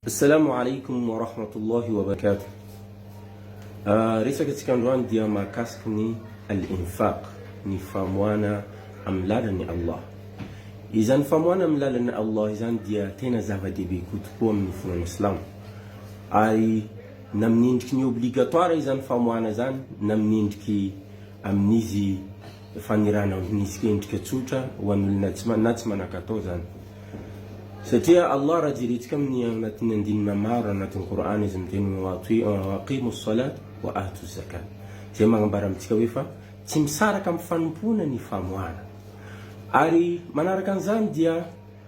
Assalamu alaikum wa rahmatullahi wa barakatuh Resaka tsika androany dia mahakasiky ny Al-infaq, ny famoana amin'ny lalan'i Allah. Izany famoana amin'ny lalan'i Allah izany dia tena zava-dehibe koa tokoa amin'ny fonan'ny silamo. Ary na amin'ny endriky ny obligatoire izany famoana izany na amin'ny endriky amin'izy fanirana ho minisika endrika tsotra ho an'olona tsy na tsy manan-katao izany. Satria Allah raha jerentsika amin'ny anatin'ny andinina maro anatin'ny Kor'any izy miteny hoe wa aqimu s-salat wa atu z-zakat izay manambara amintsika hoe fa tsy misaraka amin'ny fanompoana ny famoahana ary manaraka an'izany dia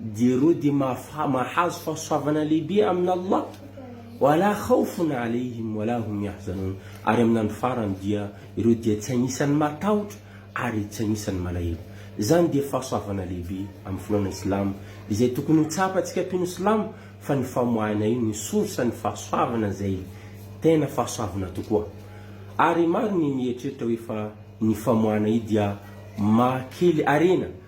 Dia ireo dia mahazo fahasoavana lehibe amin'Allah, wa la khawfun 'alayhim wa la hum yahzanun, ary amin'ny andro farany dia ireo dia tsy anisan'ny matahotra ary tsy anisan'ny malahelo. Izany dia fahasoavana lehibe amin'ny finoana Islamo izay tokony ho tsapantsika mpino Islamo fa ny famoahana io no source ny fahasoavana izay tena fahasoavana tokoa. Ary maro ny mieritreritra hoe fa ny famoahana io dia maha kely harena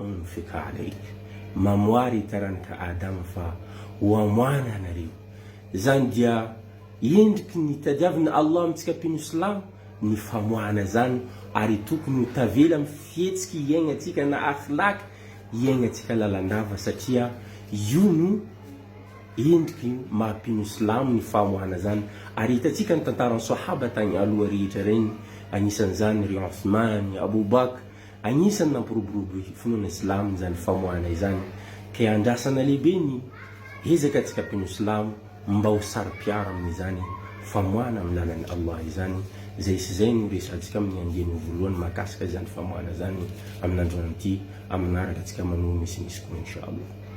Ny fekala ika. Mamoara i taranaka Adama fa ho amoahana anareo. Izany dia endriky ny tadiavin'i Allah amintsika mpino silamo ny famoahana izany ary tokony ho tavela amin'ny fihetsiky iaingantsika na akhlaq iaingantsika lalandava satria io no endriky maha mpino silamo ny famoahana izany ary hitantsika ny tantaran'ny Sahaba tagny aloha rehetra regny anisan'izany ry Outhman, Abou Bakr, Agnisan'ny nampiroborobo ny finoana silamo izany famoahana izany, ka iandrasana lehibe ny ezaka antsika mpino silamo mba ho saro-piaro amin'izany famoahana amin'ny lalan'i Allah izany, izay sy izay no resahantsika amin'ny andiany voalohany mahakasika izany famoahana izany amin'androany ity, amin'ny manaraka antsika manohy misimisy koa Insha'Allah.